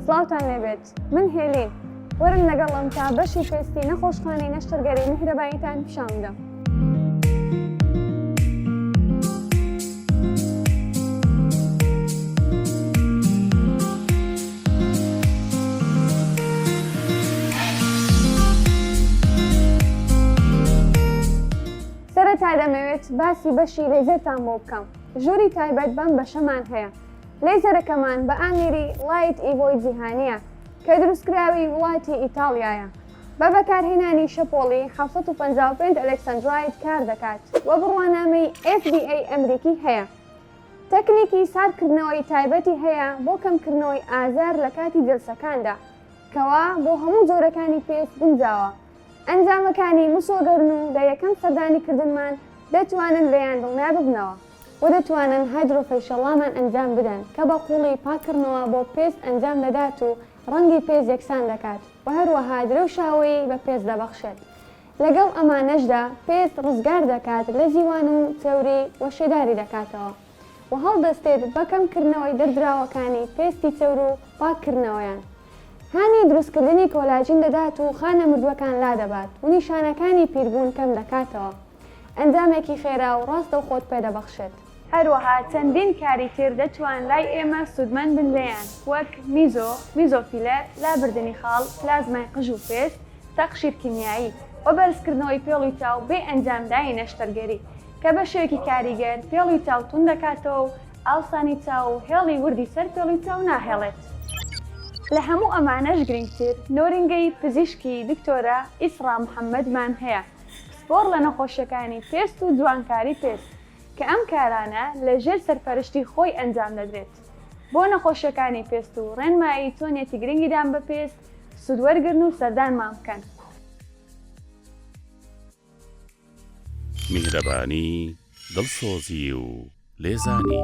سڵاوتان لێبێت من هێلین وەرن لەگەڵم تا بەشی پێستی نەخۆشخانەی نەشتەرگەری میهرەباییتان پیشان بدەم. سەرەتا دەمەوێت باسی بەشی لەیزەرتان بۆ بکەم ژووری تایبەت بەم بەشەمان هەیە لەیزەرەکەمان بە ئامێری لایت ئیڤۆی جیهانییە کە دروستکراوی وڵاتی ئیتاڵیایە، بە بەکارهێنانی شەپۆڵی حەوت سەد و پەنجا و پێنج ئەلێکسەندرایت کاردەکات و بڕوانامەی FDA ئەمریکی هەیە. تەکنیکی ساردکردنەوەی تایبەتی هەیە بۆ کەمکردنەوەی ئازار لە کاتی جەلسەکاندا، کەوا بۆ هەموو جۆرەکانی پێست گونجاوە. ئەنجامەکانی مسۆگەرن و لە یەکەم سەردانیکردنمان دەتوانن لێیان دڵنیاببنەوە. و دەتوانن هایدرۆفەیشەڵامان ئەنجام بدەن کە بە قوڵی پاککڕنەوە بۆ پێست ئەنجام دەدات و ڕەنگی پێست یەکسان دەکات و هەروەها درەوشاوەیی بە پێست دەبەخشێت لەگەڵ ئەمانەشدا پێست ڕزگار دەکات لە زیوان و چەوری و شێداری دەکاتەوە و هەڵدەستێت بە کەم کردنەوەی دەردراوەکانی پێستی چەور و پاککردنەوەیان هانی دروستکردنی کۆلاجین دەدات و خانە مردوەکان لادەبات و نیشانەکانی پیربوون کەم دەکاتەوە. ئەنجامێکی خێرا و ڕاستەوخۆت پێ دەبەخشێت. هەروەها چەندین کاری تر دەتوان لای ئێمە سوودمەند بن لێیان، وەک، میزۆ، میزۆ فیلەر، لابردنی خاڵ، پلازمای قژ و پێست، تەقشیر کیمیایی، و بەرزکردنەوەی پێڵوی چاو بێ ئەنجامدانی نەشتەرگەری، کە بە شێوەیەکی کاریگەر پێڵوی چاو توند دەکاتەوە و ئاوسانی چاو و هێڵی وردی سەر پێڵوی چاو ناهێڵێت. لە هەموو ئەمانەش گرنگتر، نۆرینگەی پزیشکی دکتۆرە ئیسڕا محەمەدمان هەیە، پسپۆڕ لە نەخۆشیەکانی پێست و جوانکاری پێست کە ئەم کارانە لە ژێر سەرپەرشتی خۆی ئەنجام دەدرێت بۆ نەخۆشیەکانی پێست و ڕێنمایی چۆنیەتی گرنگیدان بە پێست سود وەرگرن و سەردانمان بکەن. میهرەبانی، دڵسۆزی و لێزانی.